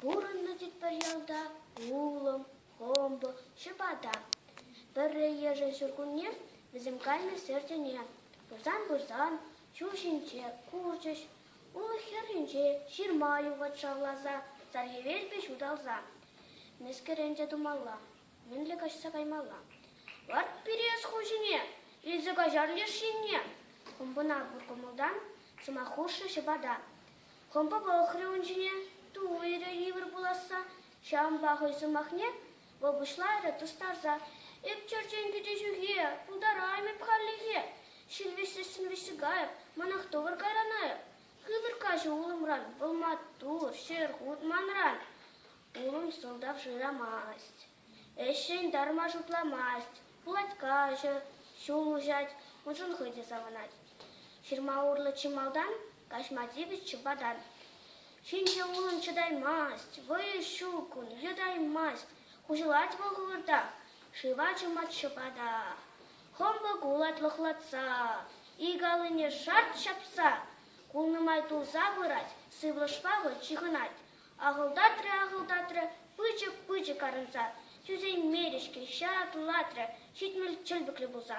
Пурӑннӑ тӗппер ялта улӑм, хӑмпӑ, ҫӑпата. Пӗрре йышӑн ҫуркунне вӗсем кайнӑ ҫӗр тӗне пырсан-пырсан ҫул ҫинче курчӗҫ. Улӑх хӗрринче ҫырма юхать шавласа, сархиверпе ҫуталса. Мӗскӗрен те тумалла, мӗнле каҫса каймалла? Ларт Пирес хуҫине, илсе каҫар леш енне! хӑмпӑна пур кӑмӑлтан сӑмах хушрӗ ҫӑпата. Кӑмпа пӑхрӗ ун ҫине, туллирӗ йывӑр пуласса, ҫавӑнпа хӑй сӑмахне вӑл пуҫларӗ тустарса. Эп черчен кӗтӳ ҫухи, пултараймӑп хальлӗхе. Ҫил вӗҫсессӗн вӗҫсӗкайӑп, манах тӑкӑр кайранайӑп. Хытӑр каҫӗ улӑмран, вӑл маттур, ҫӗр хут манран. Улӑм сӑлтав шырамасть. Ӗҫрен тарма шутламасть, пулать каҫӑ, ҫул уҫать, уншӑн хӑй те савӑнать. Ҫырма урлӑ чи малтан каҫма тивӗҫ чупатан. Ҫинҫе улӑм чӑтаймасть, вӑйӗ ҫук ун, йӑтаймасть. Хуҫӑлать вӑл хӑвӑртах, шыва чӑмать ҫӑпата. Хӑмпӑ кулать лӑхлатса, ик аллине шарт ҫапса. Кулнӑ май тулса пырать, сывлӑшпа вӑл ҫыхӑнать. Ахӑлтатрӗ, ахӑлтатрӗ, пылчӑк-пылчӑк арӑнса. Тӳсеймерӗ-ҫке, ҫатлатрӗ, ҫитмӗл чӗлпӗклӗ пулса.